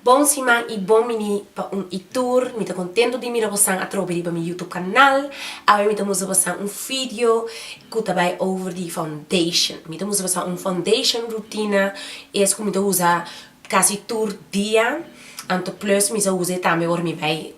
Bon siman y bon bini pa un y tur. Mi ta contento di mira bosan atrobe riba mi YouTube canal. Awe mi ta mustra bosan un video cu ta bay over di foundation. Mi ta mustra bosan un foundation rutina es cu mi ta usa casi tur dia. Anto plus mi sa usa e tambe ora mi bay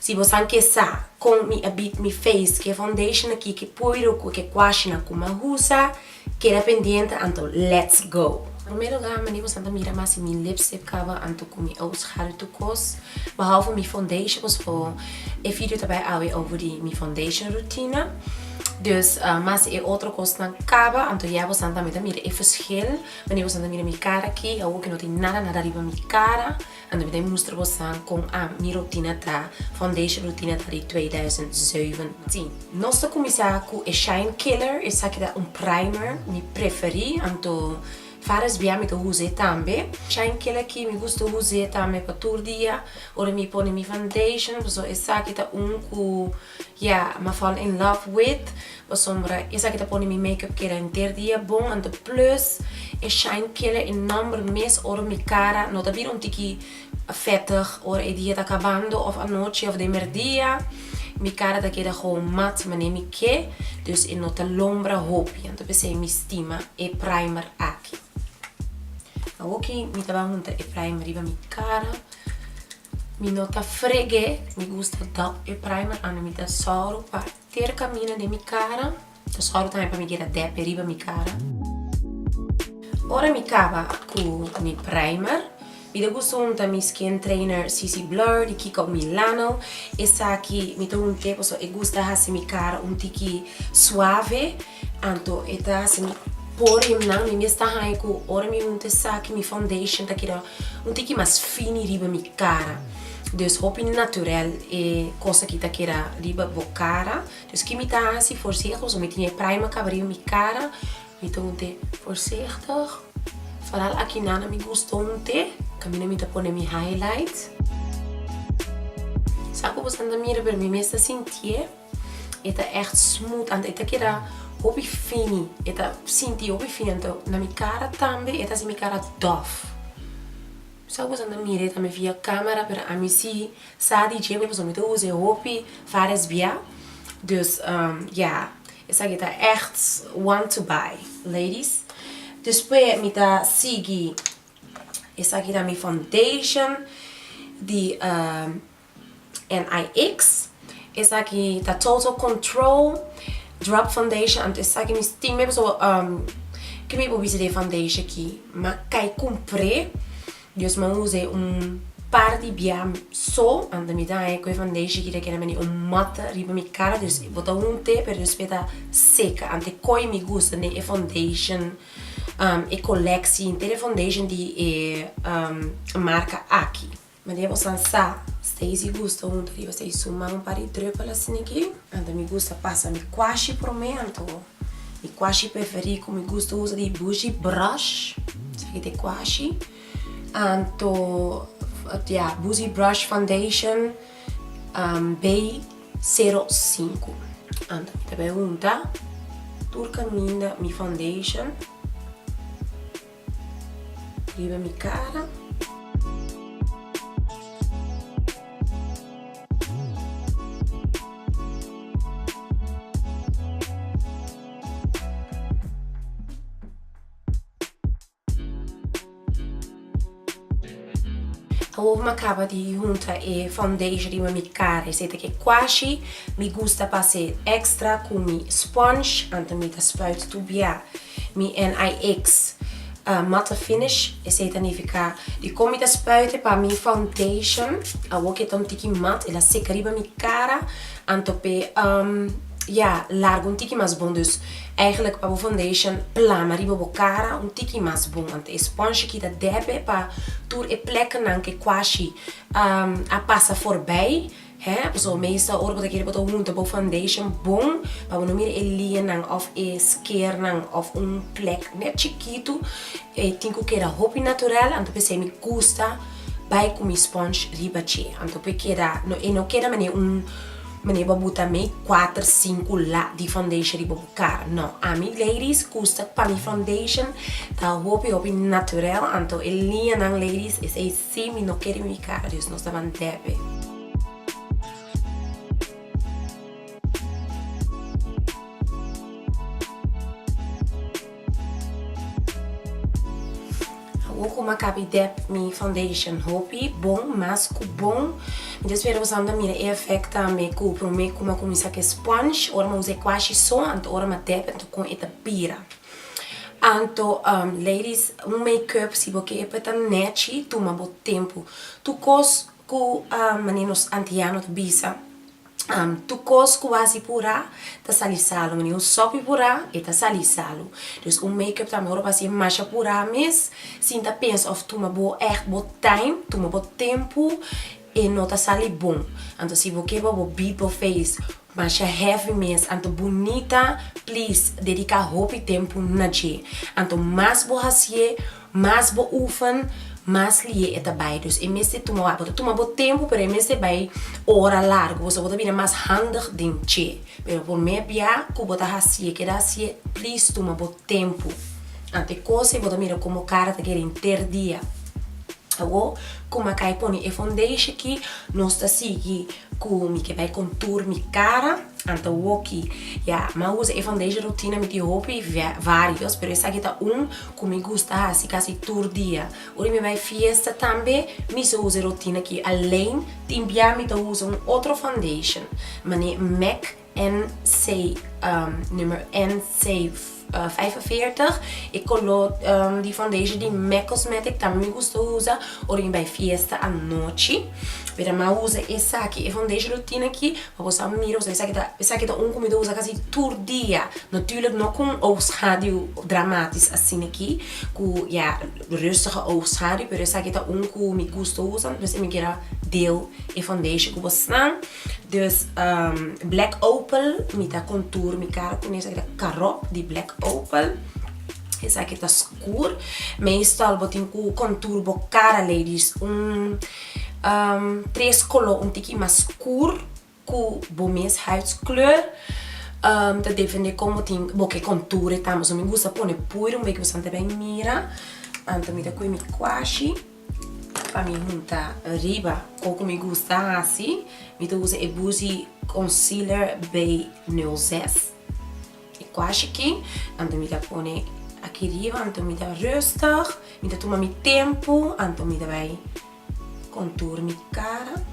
Si bo san ke sa kon mi a beat mi face ke foundation aki ke puedo ku ke kwashinan ku m'a usa, keda pendiente anto let's go! Promé lugá mane bosan ta mira ma si mi lipstick kaba anto ku mi a usa hare tur kos bahau for mi foundation pasobra e video ta bai awe over di mi foundation rutina dus ma si e otro kosnan kaba anto ya bosan tambe ta mira e verschil mane bosan ta mira mi kara aki awo ke no tin nada nada riba mi kara Anda mi ta mustra bosan kon a mi rutina ta, foundation rutina ta di twee duizend zeven. Si, nos ta kuminsá ku e shine killer, esaki ta un primer mi preferí, anto fara SBA mi ta usa e tambe. Shine killer aki mi gusta usa e tambe pa tur dia, ora mi pone mi foundation, pasobra esaki ta un ku. Ya, me fall in love with Bosombra, esaki ta pone mi makeup keda henter dia bon anto plus e shine killer e number mes ora mi cara no ta bira un tiki vettig ora e dia ta cabando of anochi of den merdia mi cara ta keda gewoon mat mane mi ke dus e no ta lombra hopi anto pesey mi stima e primer aki. Awoki mi ta bay hunta e primer riba mi cara. Mi no ta fregu'é, mi gusta dòk e primer anda mi ta sòru pa ter kamina den mi kara, ta sòru tambe pa mi keda dèpe riba mi kara. Ora mi kaba ku mi primer, mi ta gusta hunta mi skin trainer CC Blur di Kiko Milano, esaki mi ta hunt'é pasobra e gusta hasi mi kara un tiki suave. Anto e ta hasi mi por himnan, mi mes ta haña ku ora mi hunta esaki mi foundation ta keda un tiki mas fini riba mi kara, dus hopi naturèl e kos aki ta keda riba bo kara, dus ki mi ta hasi voorzichtig pasobra mi tin e primer kaba riba mi kara, mi ta hunta e voorzichtig, vooral aki nan mi gusta hunta kaminda mi ta pone mi highlight, sa ku boso nan ta mira pero mi mes ta sintié. E ta echt smooth anto e ta keda hopi fini e ta sinti hopi fini anto na mi cara tambe e ta haci mi cara dof sa cosa no mira e tambe via camera pero ami si sa di dje mi pasobra mi ta usa e hopi fares bia dus ya esaki ta echt one to buy ladies despues mi ta sigui esaki ta mi foundation di. NIX, esaki ta total control, drop foundation, anto esaki mi stim mei pasobra umm ke mi por bisa di e foundation aki ma kai cumpre dus mi a usa un par di bia so anto mi ta haña cu e foundation aki ta keda bini un mata riba mi cara dus bo ta hunte pero despues ta seca anto e koi mi gusta den e foundation umm e colectie inter e foundation di e umm marca aki. Mane bo san sa, Stacy gusta hunta riba Stacy su man un par di druppel asiniki. Anto mi gusta pasa mi kuashi por mi anto mi kuashi preferí ku mi gusta usa di bushi brush esaki ta e kuashi anto ya bushi brush foundation bay sero sinku anto mi ta bai hunta tur kaminda mi foundation. riba mi cara. Awo mi a caba di huntra e foundation riba mi cara esey ke cuashi mi gusta pa hacer extra cu mi sponge anto mi ta spuit tubia. Mi NIX mata finish, esei ta nifiká di kon mi ta spuite pa mi foundation, awor ke ta un tiki mat, el a seka riba mi kara, anto p'e ya largu un tiki mas bon, dus eigenlijk pa bo foundation plama riba bo kara un tiki mas bon, anto e sponchi kita dèpè pa tur e plèknan ke kuashi a pasa forbei. He, so meesta ora bo ta kere bo ta hunta bo foundation bon pa bo no mira e lianan of e skeernan of un plek net chikitu e tin ku keda hopi natural anto p'esei mi gusta bai ku mi sponge riba dje anto p'e keda no e no keda manera un manera bo a buta mi kuater sinku la di foundation riba bo kara no ami ladies gusta pa mi foundation ta hopi hopi naturel anto e lianan ladies esei Sí, mi no kere mi vicarios, nos ta ban debe. Awor cu ma cabi dep mi foundation hopi bon mas cu bon. Mi ta spera bosaun ta mira e effect tambe cu prome cu ma cuminsa cu e sponge ora ma usa e cuashi so anto ora ma dep anto con e ta bira. Anto ladies un make up si bo ke e pa ta nechi tuma bo tempu tu kos ku mane nos antiano ta bisa tu kos ku bo hasi pura ta sali salu mane un sopi pura e ta sali salu dus un make up tambe ora bo hasi e masha pura mes sin ta pensa of tuma bo echt bo time tuma bo tempu. E no ta sali bon. Anto si bo keba bo beat bo face masha heavy mes anto bunita please dedica hopi tempu na dje. Anto mas bo hacié mas bo oefen mas lihe e ta bay dus e mester tuma wak bo ta tuma bo tempu pero e mester bay ora largo boso bo ta bini mas handig den dje pero por me bia cu bo ta hacié keda hacié please tuma bo tempu anto e cosa y bo ta mira como cara ta keda henter dia. Awo ku Makai pone e fondeishi ki nos ta sigui ku mi ke bai kontur mi kara anta woki. Ya, mi a usa e fondeishi rutina mi tin hopi varios pero esaki ta un ku mi gusta hasi kasi tur dia. Ora mi bai fiesta tambe mi so usa e rutina aki. Alein timbiá mi ta usa un otro foundation mané mac NC, numero NC45, e coló di foundation di me cosmetic tambe mi gusta usa ora mi bai fiesta anochi mira ma usa esaki e foundation lo tin aki pa bo sa mira pasobra esaki ta esaki ta un cu mi ta usa casi tur dia natuurlijk no cu un oogschaduw dramatisch asina aki cu ya rustige oogschaduw pero esaki ta un cu mi gusta usa entonces mi quiera deel e foundation cu bo snan. Dus black opel mi ta contour mi cara con esaki ta carro di black opel esaki ta scoor meestal bo tin cu contour bo cara ladies un tres color un tiki mas scoor cu bo mes huidskleur ta depende con bo tin bo ke contour e tambe so mi gusta pone puro un beetje bosan ta bay mira anto mi ta cu e mi kuashi. Pa mi hunta riba con cu mi gusta haci mi ta usa e buzi concealer bay nail zest e cuashi ki anto mi ta pone aki riba anto mi ta rustig mi ta tuma mi tempo anto mi ta bay contour mi cara.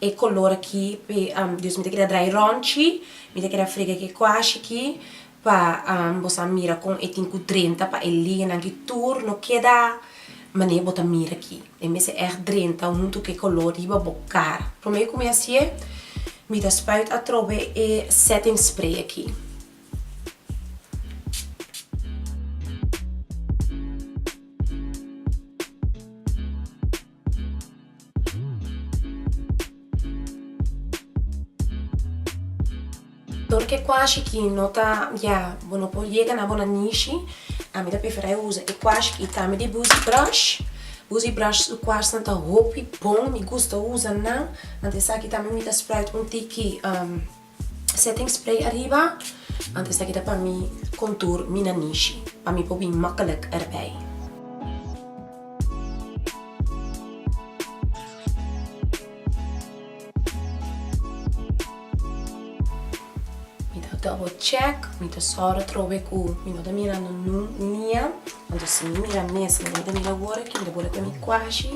E color aki Dios mi ta keda draai ronchi mi ta keda frega ke kuashi aki pa bo sa mira kon e tin ku drenta pa e liganan aki tur no keda mane bo ta mira aki e mester echt drenta huntu ke color riba bo kara prome ku mi hasi'e mi ta spuit atrobe e setting spray aki Todo ke kuashi ki no ta ya bo no por yega na bo na nishi a mi ta prefera e usa e kuashi ki tambe di buzi brush buzi brush su kuash nan ta hopi bon mi gusta usa nan anto esaki tambe mi ta sprite un tiki. Setting spray ariba antes ta kita pa mi contour mi na nishi pa mi por bin makkelijk erbij. Mi ta double check mi ta sòru trobe ku mi no ta mira no nu nia anto si mi mira mes mi no ta mira wor aki mi ta bole kue mi kuashi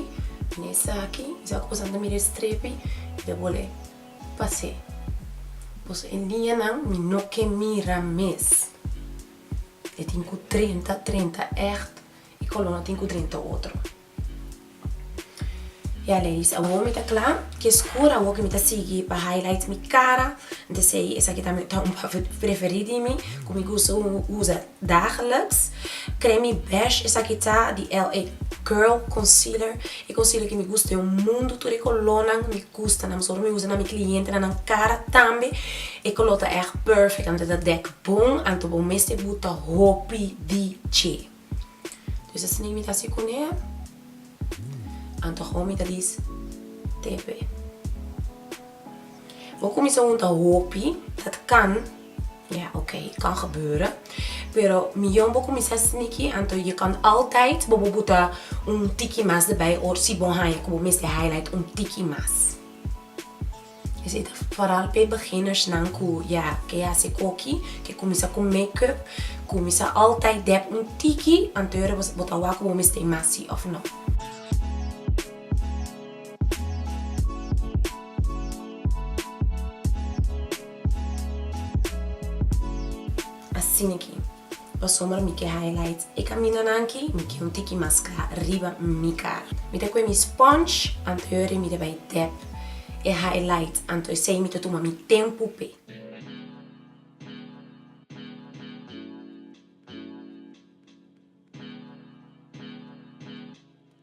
mi na esaki mi sa ku pasanan ta mira e strepi mi ta bole. Pas'e, boso e niñanan mi no ke mira mes. E tin ku drenta, drenta ègt, e kolonan tin ku drenta otro. Ya, ladies, awor mi ta kla. Ke skur awor ku mi ta sigui pa highlight mi kara, mi ta sei esaki ta un preferí di mi, ku mi gusta usa. Dageliks creme mi besh esaki ta di LA girl concealer e concealer ki mi gusta den un mundo tur e colornan mi gusta nan pasobra mi usa na mi clientenan nan cara tambe e color ta echt perfect anto ta dek bon anto bo mes te buta hopi di dje dus asina e mi ta hasi cune anto awo mi ta dice te pe. Bo kuminsá hunta hopi dat kan, ya ok kan gebeure, pero miyon bo kuminsá sneaky anto je kan altaid bobo buta un tiki mas derbij or si bo haña ku bo mester highlight un tiki mas. Esei ta foral p'e beginnersnan ku ya ke hasi koki, ke kuminsá ku makeup, kuminsá altaid dèp un tiki antes bo ta wak ku bo mester hasi òf no. Asina aki, pasobra mi ke highlight e kamindanan aki, mi ke un tiki mas kla riba mi kara. Mi ta kue mi sponge anto yore mi ta bai dep e highlight, anto esei mi ta tuma mi tempu p'e.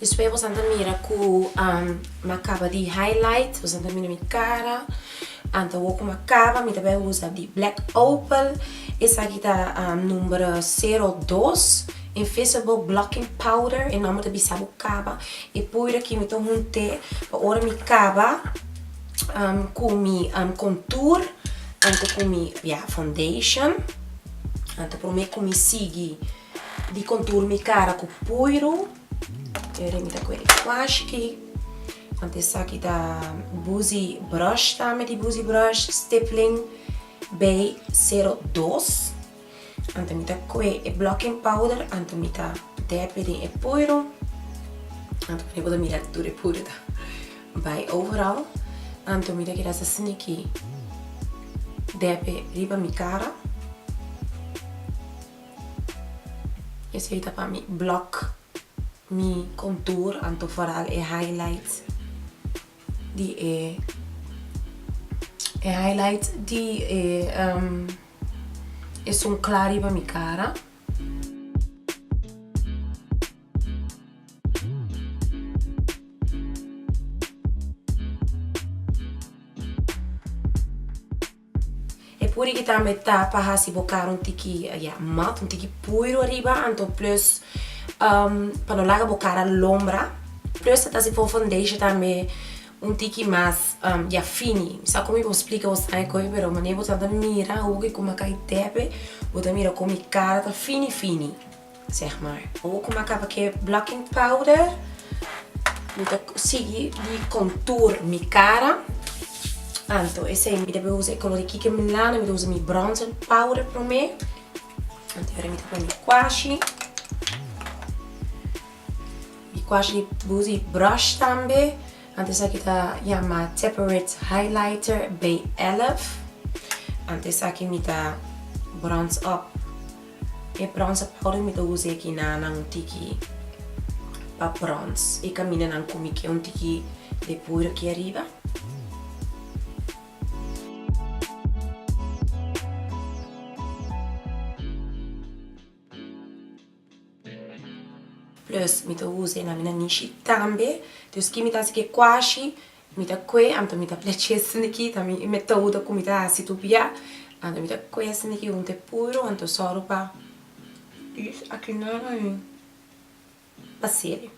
Despues bosan ta mira cu m'a caba di highlight, bosan ta mira mi cara, ta wor cu m'a caba, mi ta bay usa di black opal, esaki ta number cero dos invisible blocking powder, e nomber ta bisa bo caba, e poeder aki mi ta hunte pa ora mi caba cu mi contour anto cu mi, ya foundation, ta prome cu mi sigui. Di contour mi cara cu puiru. Eri mi ta cu e wash ki. Anto esaki ta busy brush tambe di busy brush stippling bay zero dos. Anto mi ta cu e blocking powder anto mi ta depi den e puiru. Anto mi bo ta mira tur e puiru ta bay overal. Anto mi ta keda sa sneaky depi riba mi cara. Esey ta pa mi block mi contour anto foral e highlight di e e highlight di e ehm e sun cla riba mi cara. E pudi ki tambe ta pa hasi bo kara un tiki ya mat, un tiki puiru ariba anto plus pa no laga bo kara lombra, plus ta ta si for foundation tambe un tiki mas ya fini, sa komo i por splika bo sabe koe pero manera bo tabata mira hogi kuma kai tepe bo ta mira komo mi kara ta fini fini. Zeg maar. Awo ku mi a kaba ke blocking powder, mi ta sigui di contour mi cara. Anto esei mi debe usa e color di Kikki Milano, mi ta usa mi bronzer powder promé. Anto ahora mi ta pone mi cuashi. Mi cuashi mi usa e brush tambe. Anto esaki ta yama Teparit Highlighter B11. Anto esaki mi ta bronze up. E prons a powder mi ta usa e kina nan un tiki pa prons y camina nan cumi ke un tiki de powder aki ariba. Plus mi ta usa e nan mi nan nishi tambe. Despues ki mi ta haci ke cuashi. Mi ta kue, anto mi ta pleche esniki ta mi metodo ku mi ta hasi tur bia, anto mi ta kue esniki hunte puro, anto sòru pa use aki nan ahi pa seri.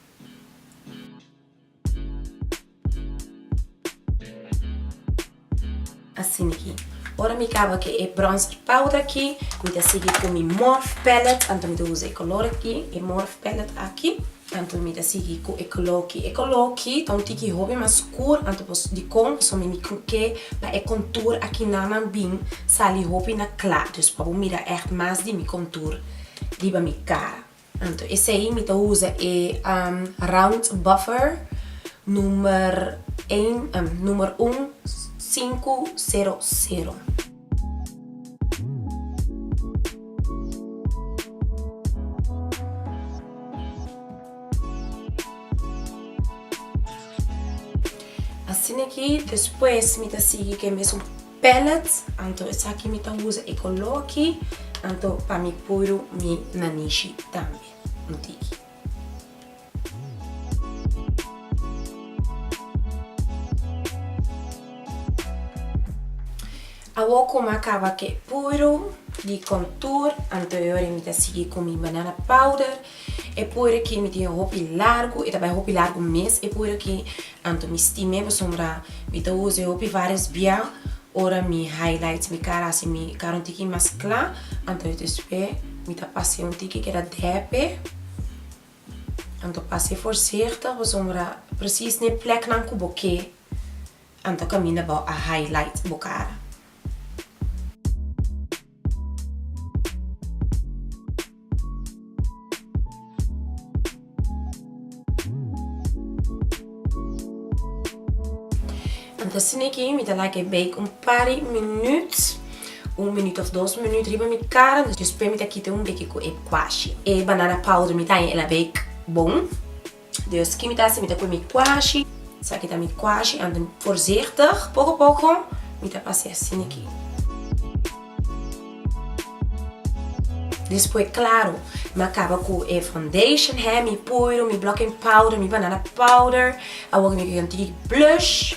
Asina aki. Ora mi caba cu e bronzer powder aki, mi ta sigui cu mi Morphe palette, anto mi ta usa e color aki, e Morphe palette aki, anto mi ta sigui cu e color aki, e color aki ta un tiki hopi mas scur, anto pasobra dicon? Pasobra mi truke pa e contour aki naman bin sali hopi na cla, dus pa bo mira echt mas di mi contour riba mi cara. Anto esei mi ta usa e round buffer numer ein numer un sinku sero sero. Asina aki despues mi ta sigui ku e mesun. Palette anto esaki mi ta usa e color aki anto pa mi puru mi nanishi tambe un tiki. Awor cu mi a caba cu e puru di contour anto e ora mi ta sigui cu mi banana powder E poer aki mi tin hopi largu, e ta bai hopi largu mes e poer aki, anto mi stim'e pasobra mi ta usae hopi varias bia ora mi highlights mi cara hasi mi cara un tiki mas cla, anto despues mi ta pasae un tiki keda depe, anto pasae forzichtig pasobra precies n'e pleknan ku bo ke anto kaminda bo a highlight bo cara. Entonces ni aquí mi ta laga e bake un par di minuut, un minuut of dos minuut riba mi kara, entonces despues mi ta kita un beke cu e cuashi. E banana powder mi ta haña e la bake bon. Dus ki mi ta hasi mi ta poi mi kuashi esaki ta mi kuashi an den voorzichtig poko poko mi ta pasea sin aki despues claro mi a caba cu e foundation he mi puiru mi blocking powder mi banana powder awor mi a gion tigi blush.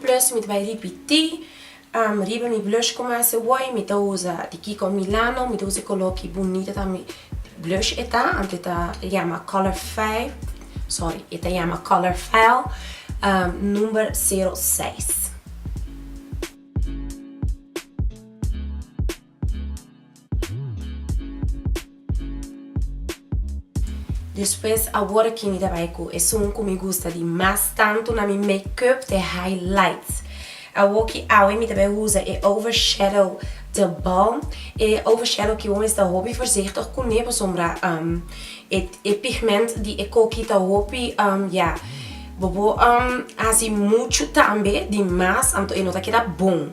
Plus mi ta bai ripití riba mi blush ku mi hasi wòi mi ta uza di kiko milano mi ta uza e koló ki bunita ta mi blush e ta anto e ta yama color fail sorry e ta yama color fail number zero seis. Despues awor aki mi ta bai cu esun cu mi gusta di mas tanto na mi make up te highlights. Awor ki awe mi ta bai usa e over shadow de balm. E over shadow ki bo mes ta hopi voorzichtig cu ne pasobra e pigment di e coki ta hopi ya bobo haci mucho tambe di mas anto e no ta keda bon.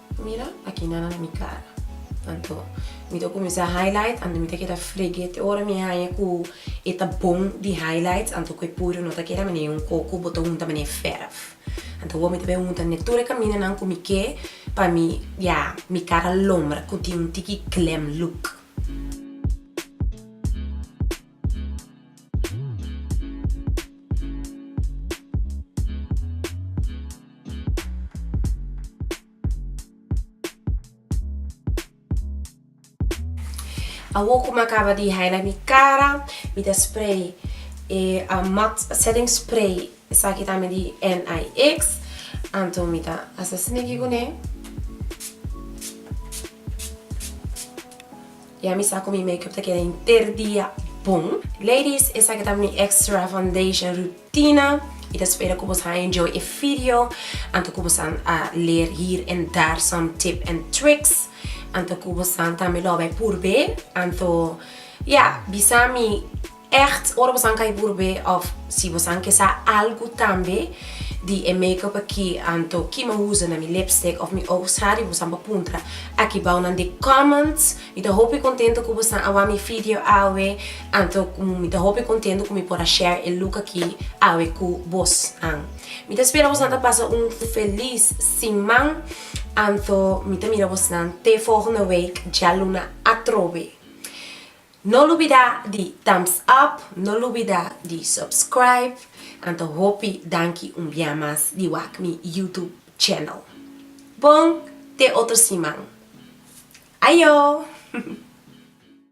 Mira aki nada na mi cara. Anto mi ta cuminsa highlight anto mi ta keda fregue te ora mi haya cu e ta bon di highlights anto cu e purio no ta keda manera di un coco bo ta hunta manera di verf. Anto awor mi ta bay hunta ne tur e caminanan cu mi ke pa mi ya mi cara lombra cu tin un tiki glam look. Awo ku mi a kaba di highlight mi kara mi ta spray e a matte setting spray esaki ta mi di NYX anto mi ta hasi asina aki kuné Y a mi sa cu mi make up ta keda henter dia bon. Ladies esaki ta mi extra foundation rutina y ta spera cu bosa a enjoy e video anto cu bosa a leer hier en dar some tip and tricks anto cu bosa tambe lo bay purbe anto ya bisa mi. Ègt, ora bosan kai burbé òf si bosan ke sa algu tambe di e makeup aki anto ki mi a usa na mi lipstick òf mi oog sari bosan pa puntra aki bao nan den comments mi ta hopi kontento ku bosan a wak mi video awe anto mi ta hopi kontento ku mi por a share e look aki awe ku bosnan mi ta spera bosan ta pasa un felis siman anto mi ta mira bosnan te fohende week djaluna atrobe. No lubida di thumbs up, no lubida di subscribe, anto hopi danki un bia mas di wak mi YouTube channel. Bon te otro siman. Ayo!